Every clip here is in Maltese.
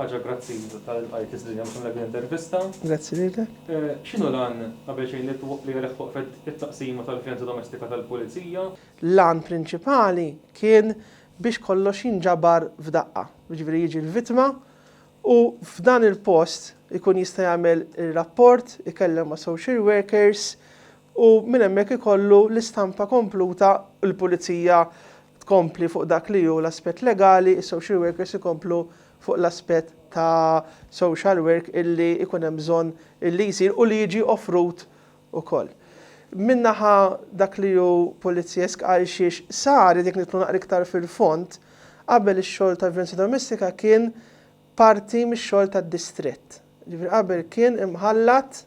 Grazzi tal-qajt l-istudja mxum l intervista. Grazzi lilek. Eh, xinu lan qabel xejn li għalek waqfet it-taqsima tal-vjenza domestika tal-pulizija? Lan prinċipali kien biex kollox jinġabar f'daqqa. Ġifieri jiġi l-vittma u f'dan il-post ikun jista' jagħmel ir-rapport, ikellem ma' social workers u minn hemmhekk ikollu l-istampa kompluta l-pulizija tkompli fuq dak li hu l-aspett legali, is-social workers ikomplu fuq l-aspett ta' social work illi ikun hemm bżonn illi jsir u li jiġi offrut ukoll. Minn naħa dak li hu pulizjesk għalxiex saret, jekk nidħlu naqra iktar fil-fond, qabel ix-xogħol ta' vjolenza domestika kien parti mix-xogħol tad-distrett. Jiġifieri qabel kien imħallat,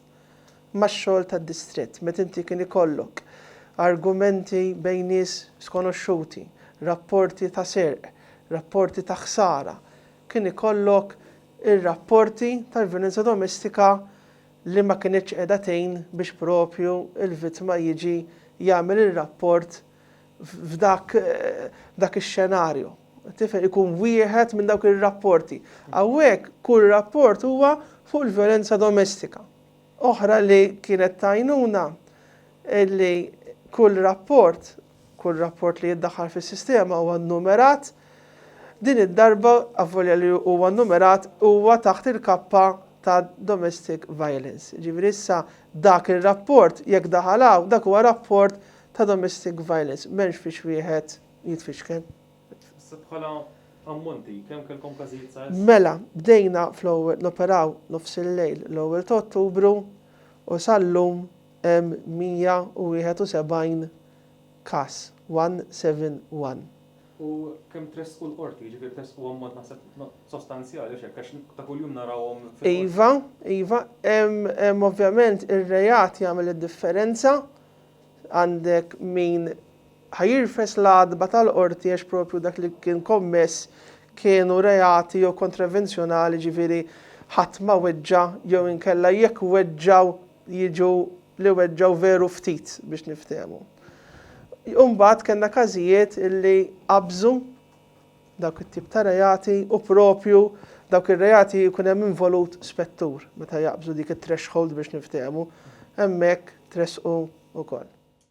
max-xogħol tad-distrett, meta inti kien ikollok argumenti bejn nies skonoxxuti, rapporti ta' serq, rapporti ta' ħsara, kien ikollok ir-rapporti tal-vjolenza domestika li ma kinitx qiegħda tgħin biex proprju l-vittma jiġi jagħmel ir-rapport f'dak dak ix-xenarju. Tifhem, ikun wieħed minn dawk ir-rapporti. Hawnhekk kull rapport huwa fuq il-vjolenza domestika. Oħra li kienet t'għajnuna li kull rapport, kull rapport li jiddaħħal fis-sistema huwa nnumerat, din id-darba avolja li huwa nnumerat huwa taħt il-kappa ta' domestic violence. Jiġifieri issa dak ir-rapport jekk daħal hawn dak huwa rapport ta' domestic violence m'hemmx fiex wieħed jitfixkel. Issa bħala ammonti, kemm kellkom każijiet sa issa? Mela, bdejna noperaw nofs il-lejl l-ewwel ta' Ottubru u sal-lum hemm 171 każ, 171. U kemm tressqu l-Qorti? Jiġifieri tressqu ammont naħseb sostanzjali għax hekk għax ta' kuljum narawhom fil-Qorti. Iva, iva. Hemm ovvjament ir-reat jagħmel id-differenza. Għandek min ħa jirfes l-għatba tal-qorti għax proprju dak li kien kommess kienu reati jew kontravenzjonali jiġifieri ħadd ma weġġa' jew inkella jekk weġġgħu jiġu li weġġgħu veru ftit biex niftehmu. U mbagħad kellna każijiet illi qabżu dawk it-tip ta' reati u proprju dawk ir-reati jkun hemm involut spettur meta jaqbżu dik it-threshold biex niftehmu, hemmhekk tressqu wkoll.